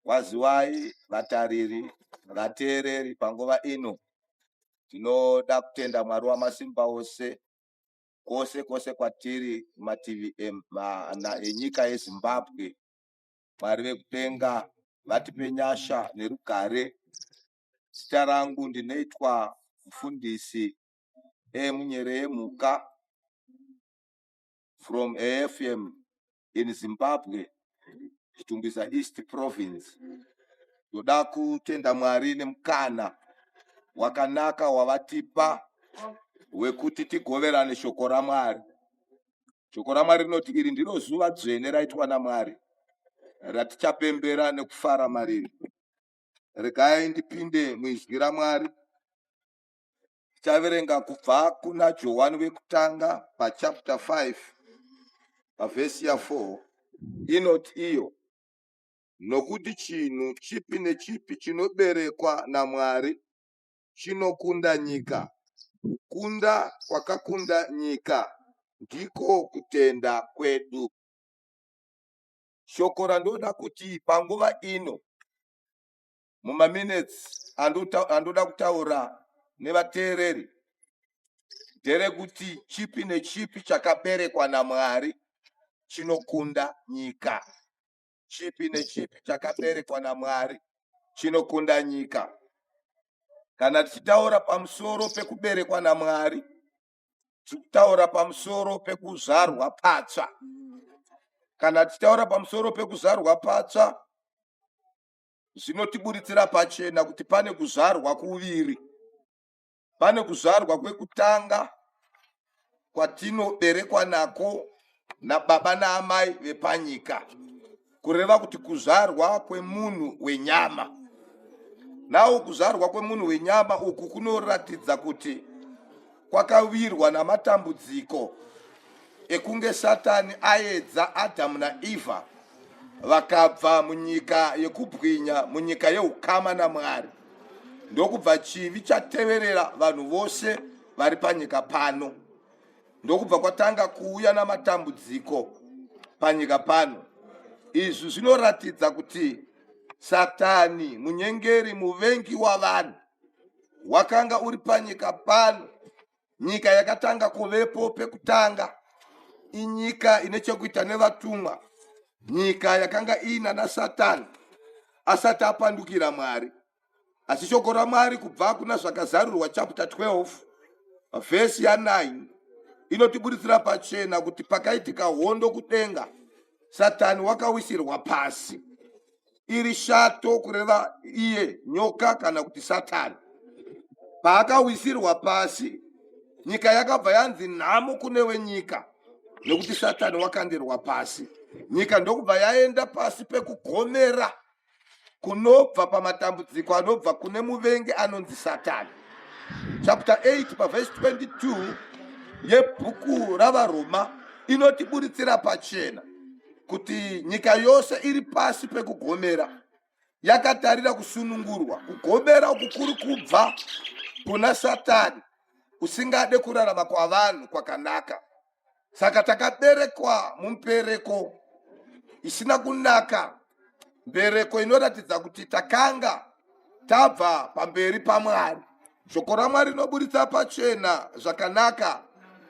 Waziwai vatariri, vateereri panguva ino tinoda kutenda Mwari wamasimba ose kwose kwose kwatiri kumativi emana enyika yeZimbabwe. Mwari vekudenga vatipe nyasha nerugare. Zita rangu ndinoitwa mufundisi e munyere ye mhuka from AFM in Zimbabwe, Chitungwiza East Province. Ndoda kutenda Mwari nemukana wakanaka wavatipa wekuti tigoverane shoko raMwari. Shoko raMwari rinoti iri ndiro zuva dzvene raitwa naMwari ratichapembera nekufara mariri. Regai ndipinde muizwi raMwari Tichaverenga kubva kuna Johani wekutanga pachapter 5 pavhesi ya 4 inoti iyo nokuti chinhu chipi nechipi chinoberekwa naMwari chinokunda nyika. Kukunda kwakakunda nyika ndiko kutenda kwedu. Shoko randoda kuti panguva ino mumaminutes andoda kutaura nevateereri nderekuti chipi nechipi chakaberekwa namwari chinokunda nyika chipi nechipi chakaberekwa namwari chinokunda nyika kana tichitaura pamusoro pekuberekwa namwari tikutaura pamusoro pekuzvarwa patsva kana tichitaura pamusoro pekuzvarwa patsva zvinotiburitsira pachena kuti pane kuzvarwa kuviri pane kuzvarwa kwekutanga kwatinoberekwa nako nababa naamai vepanyika kureva kuti kuzvarwa kwemunhu wenyama nawo kuzvarwa kwemunhu wenyama uku kunoratidza kuti kwakawirwa namatambudziko ekunge satani aedza adhamu naevha vakabva munyika yekubwinya munyika yeukama namwari ndokubva chivi chateverera vanhu vose vari panyika pano ndokubva kwatanga kuuya namatambudziko panyika pano izvi zvinoratidza kuti satani munyengeri muvengi wavanhu wakanga uri panyika pano nyika yakatanga kuvepo pekutanga inyika ine chekuita nevatumwa nyika yakanga iina nasatani asati apandukira mwari asi shoko ramwari kubva kuna zvakazarurwa chapter 12 vhesi ya9 inotiburitsira pachena kuti pakaitika hondo kudenga satani wakawisirwa pasi iri shato kureva iye nyoka kana kuti satani paakawisirwa pasi nyika yakabva yanzi nhamo kune wenyika nekuti satani wakandirwa pasi nyika ndokubva yaenda pasi pekugomera kunobva pamatambudziko anobva kune muvengi anonzi satani chapter 8 pavhesi 22 yebhuku ravaroma inotiburitsira pachena kuti nyika yose iri pasi pekugomera yakatarira kusunungurwa kugomera uku kuri kubva kuna satani usingade kurarama kwavanhu kwakanaka saka takaberekwa mumpereko isina kunaka mbereko inoratidza kuti takanga tabva pamberi pamwari shoko ramwari rinoburitsa pachena zvakanaka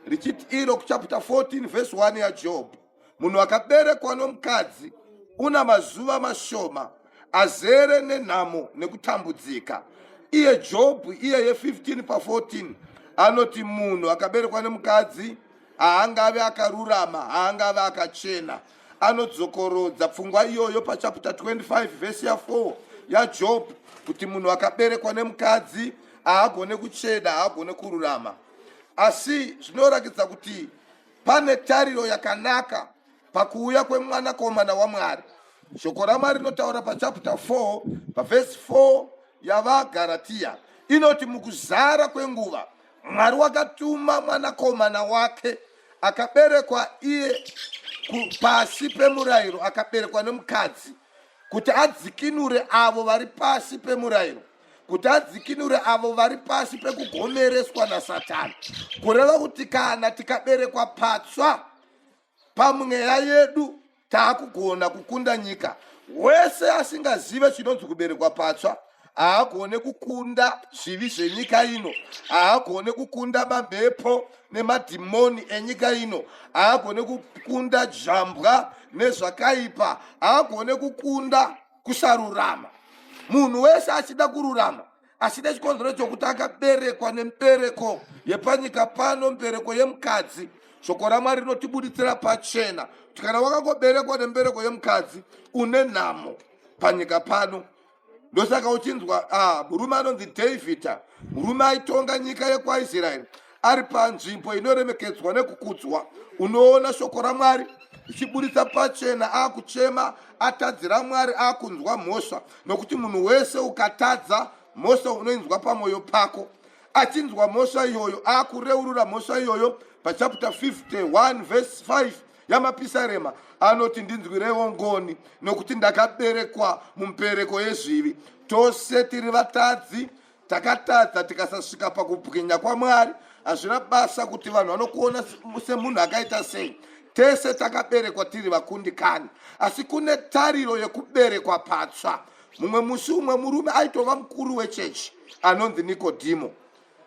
richiti iro kuchaputa 14 vhesi 1 yajob munhu akaberekwa nomukadzi una mazuva mashoma azere nenhamo nekutambudzika iye jobhu iyeye 15 pa14 anoti munhu akaberekwa nemukadzi haangave akarurama haangave akachena anodzokorodza pfungwa iyoyo pachaputa 25 vhesi ya4 yajob kuti munhu akaberekwa nemukadzi haagone kucheda haagone kururama asi zvinoratidza kuti Pane tariro yakanaka pakuuya kwemwanakomana waMwari. Shoko raMwari rinotaura pachaputa 4 pavhesi 4 yavaGaratiya inoti mukuzara kwenguva Mwari wakatuma mwanakomana wake akaberekwa iye pasi pemurayiro akaberekwa nemukadzi kuti adzikinure avo vari pasi pemurayiro kuti adzikinure avo vari pasi pekugomereswa nasatani kureva kuti kana tikaberekwa patsva pamweya yedu taakugona kukunda nyika wese asingazive chinonzi kuberekwa patsva haagone kukunda zvivi zvenyika ino haagone kukunda mamhepo nemadhimoni enyika ino haagone kukunda jambwa nezvakaipa haagone kukunda kusarurama munhu wese achida kururama asi nechikonzero chokuti akaberekwa nembereko yepanyika pano mbereko yemukadzi shoko ramwari rinotibuditsira pachena kuti kana wakangoberekwa nembereko yemukadzi une nhamo panyika pano ndosaka uchinzwa ah, murume anonzi davhidha murume aitonga nyika yekwaisraeri ari panzvimbo inoremekedzwa nekukudzwa unoona shoko ramwari ichiburitsa pachena akuchema atadzira mwari akunzwa mhosva nokuti munhu wese ukatadza mhosva unoinzwa pamwoyo pako achinzwa mhosva iyoyo akureurura mhosva iyoyo pachapta 51 vhesi 5 yamapisarema anoti ndinzwirewo ngoni nokuti ndakaberekwa mumpereko yezvivi tose tiri vatadzi takatadza tikasasvika pakubwinya kwamwari hazvina basa kuti vanhu vanokuona semunhu akaita sei tese takaberekwa tiri vakundikani asi kune tariro yekuberekwa patsva mumwe musi umwe murume aitova mukuru wechechi anonzi nikodhimo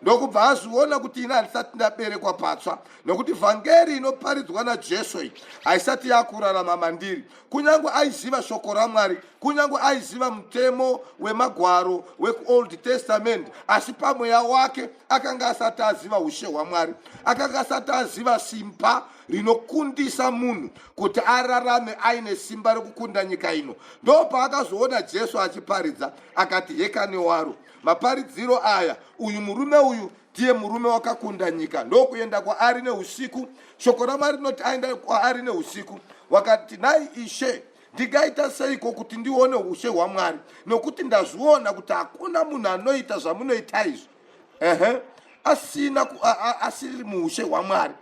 ndokubva azviona kuti ini handisati ndaberekwa patsva nokuti vhangeri inoparidzwa najesu iyi haisati yakurarama mandiri kunyange aiziva shoko ramwari kunyange aiziva mutemo wemagwaro wekuold testament asi pamweya wake akanga asati aziva ushe hwamwari akanga asati aziva simba rinokundisa munhu kuti ararame aine simba rekukunda nyika ino ndo paakazoona jesu achiparidza akati hekane waro maparidziro aya uyu murume uyu ndiye murume wakakunda nyika ndokuenda kwaari neusiku shoko ramwari rinoti aenda kwaari neusiku wakati nhai ishe ndingaita seiko kuti ndione ushe hwamwari nokuti ndazviona kuti hakuna munhu anoita zvamunoita izvi ehe asina asiri muushe hwamwari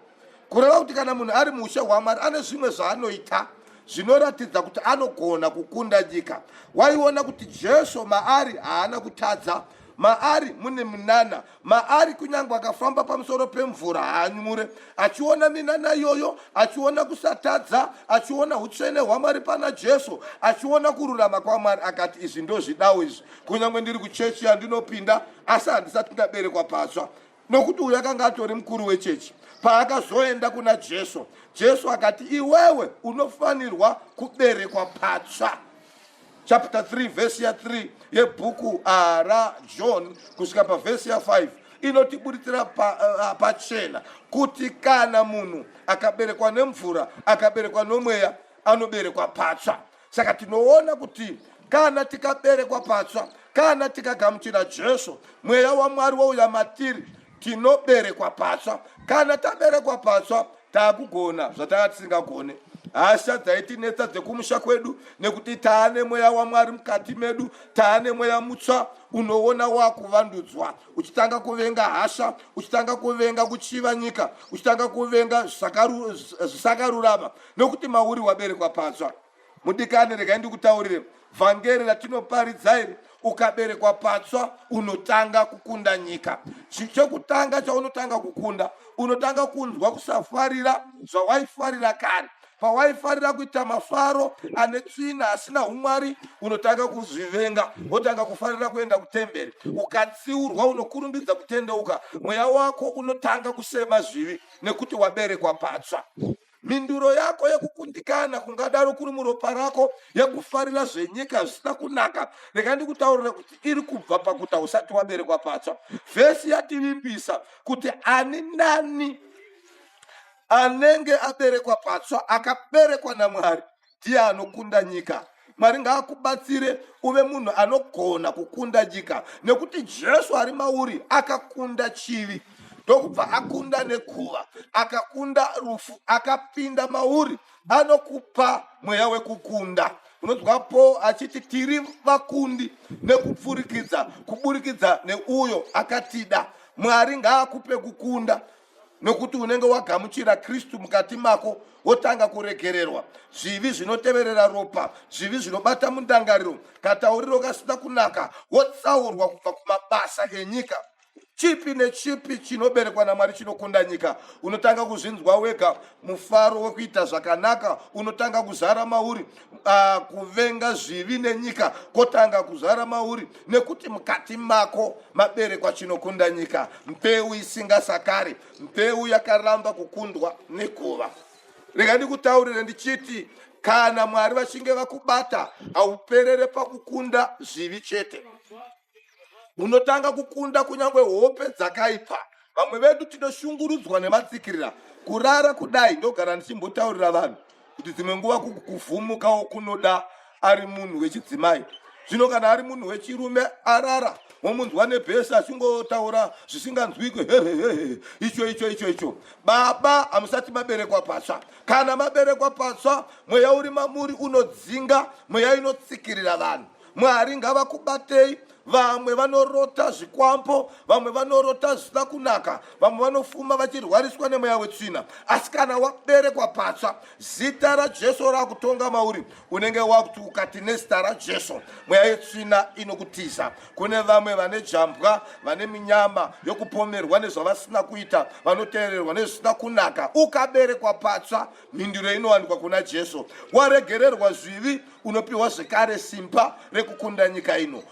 kureva kuti kana munhu ari muushe hwamwari ane zvimwe zvaanoita zvinoratidza kuti anogona kukunda nyika waiona kuti jesu maari haana kutadza Maari mune minana, maari kunyange akafamba pamusoro pemvura haanyure, achiona minana iyoyo, achiona kusatadza, achiona utsvene hwaMwari pana Jesu, achiona kururama kwaMwari, akati izvi ndozvidawo izvi, kunyange ndiri kuchechi yandinopinda, asi handisati ndaberekwa patsva. nokuti uyo akanga atori mukuru wechechi paakazoenda kuna jesu jesu akati iwewe unofanirwa kuberekwa patsva chapter 3 vhesi ya 3 yebhuku ah, rajohn kusvika pavhesi ya 5 inotiburitsira pachena pa, uh, pa kuti kana munhu akaberekwa nemvura akaberekwa nomweya anoberekwa patsva saka tinoona kuti kana tikaberekwa patsva kana tikagamuchira jesu mweya wamwari wouya matiri tinoberekwa patsva kana taberekwa patsva taakugona zvatanga tisingagone hasha dzaitinetsa dzekumusha kwedu nekuti taane mweya wamwari mukati medu taane mweya mutsva unoona wakuvandudzwa uchitanga kuvenga hasha uchitanga kuvenga kuchiva nyika uchitanga kuvenga zvisakarurama nokuti mauri waberekwa patsva mudikani regai ndikutaurire vhangeri ratinoparidza iri ukaberekwa patsva unotanga kukunda nyika chekutanga chaunotanga kukunda unotanga kunzwa kusafarira zvawaifarira kare pawaifarira kuita mafaro ane tsvina asina umwari unotanga kuzvivenga wotanga kufarira kuenda kutemberi ukatsiurwa unokurumbidza kutendeuka mweya wako unotanga kusema zvivi nekuti waberekwa patsva Mhinduro yako yekukundikana kungadaro kuri muropa rako yekufarira zvenyika zvisina kunaka. Rega ndikutaurira kuti iri kubva pakuta usati waberekwa patsva. Vhesi yativimbisa kuti ani nani anenge aberekwa patsva akaberekwa naMwari ndiye anokunda nyika mwari ngaakubatsire uve munhu anogona kukunda nyika nekuti jesu ari mauri akakunda chivi ndokubva akunda nekuva akakunda rufu akapinda mauri anokupa mweya wekukunda unonzwa paul achiti tiri vakundi nekupfurikidza kuburikidza neuyo akatida mwari ngaakupe kukunda nokuti unenge wagamuchira kristu mukati mako wotanga kuregererwa zvivi zvinoteverera ropa zvivi zvinobata mundangariro katauriro kasina kunaka wotsaurwa kubva kumabasa enyika chipi nechipi chinoberekwa namwari chinokunda nyika unotanga kuzvinzwa wega mufaro wekuita zvakanaka unotanga kuzara mauri uh, kuvenga zvivi nenyika kotanga kuzvara mauri nekuti mukati mako maberekwa chinokunda nyika mbeu isingasakari mbeu yakaramba kukundwa nekuva rega ndikutaurire ndichiti kana mwari vachinge vakubata hauperere pakukunda zvivi chete hunotanga kukunda kunyange hope dzakaipa vamwe vedu tinoshungurudzwa nematsikirira kurara kudai ndogara ndichimbotaurira vanhu kuti dzimwe nguva kuvhumukawo kunoda ari munhu wechidzimai zvino kana ari munhu wechirume arara womunzwa nebhesi achingotaura zvisinganzwikwe hehehehe icho icho icho icho baba hamusati maberekwa patsva kana maberekwa patsva mweya uri mamuri unodzinga mweya inotsikirira vanhu Mwari ngavakubatei. Vamwe vanorota zvikwambo, vamwe vanorota zvisina kunaka, vamwe vanofuma vachirwariswa nemweya wetsvina. Asi kana waberekwa patsva, zita raJesu rakutonga mauri, unenge wakuti ukati nezita raJesu, mweya yetsvina inokutiza. Kune vamwe vane jambwa, vane minyama yokupomerwa nezvavasina kuita, vanoteererwa nezvisina kunaka. Ukaberekwa patsva Mhinduro inowanikwa kuna Jesu. Waregererwa zvivi, unopiwa zvekare simba rekukunda nyika ino.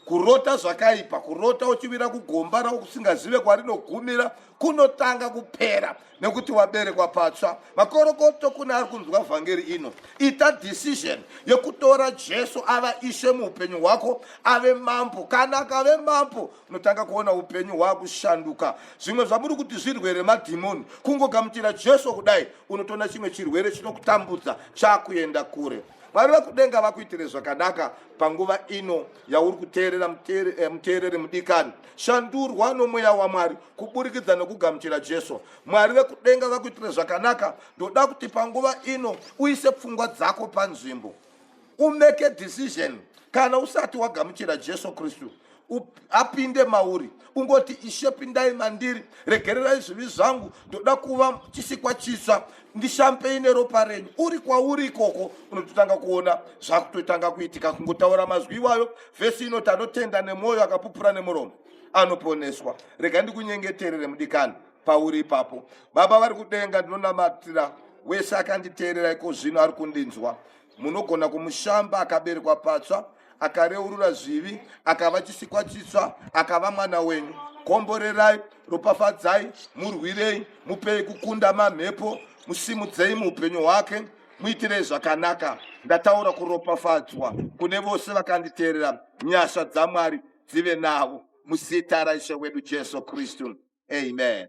Kurota zvakaipa, kurota uchivira kugomba rausingazive kwarinogumira, kunotanga kupera nekuti waberekwa patsva. Makorokoto kune ari kunzwa vhangeri ino, ita decision yekutora Jesu ava ishe muupenyu hwako, ave mambo. Kana akave mambo unotanga kuona upenyu hwakushanduka zvimwe zvamuri kuti zvirwere madhimoni kungogamuchira jesu kudai unotoona chimwe chirwere chinokutambudza chakuenda kure mwari vekudenga vakuitire zvakanaka panguva ino yauri kuteerera muteereri eh, mudikani shandurwa nomweya wamwari kuburikidza nokugamuchira jesu mwari vekudenga vakuitire zvakanaka ndoda kuti panguva ino uise pfungwa dzako panzvimbo umake a decision kana usati wagamuchira jesu kristu apinde mauri ungoti ishe pindai mandiri regererai zvivi zvangu ndoda kuva chisikwa chitsva ndishampei neropa renyu uri kwauri ikoko unototanga kuona zvakutotanga kuitika kungotaura mazwi iwayo vhesi inoti anotenda nemwoyo akapupura nemuromo anoponeswa rega ndikunyengeterere mudikani pauri ipapo baba vari kudenga ndinonamatira wese akanditeerera iko zvino ari kundinzwa Munogona kumushamba akaberekwa patsva, akareurura zvivi, akava chisikwa chitsva, akava mwana wenyu. Komborerai, ropafadzai, murwirei, mupei kukunda mamhepo, musimudzei muupenyu hwake, muitirei zvakanaka. Ndataura kuropafadzwa kune vose vakanditeerera, nyasha dzaMwari dzive navo muzita raishe wedu Jesu Kristu. Amen.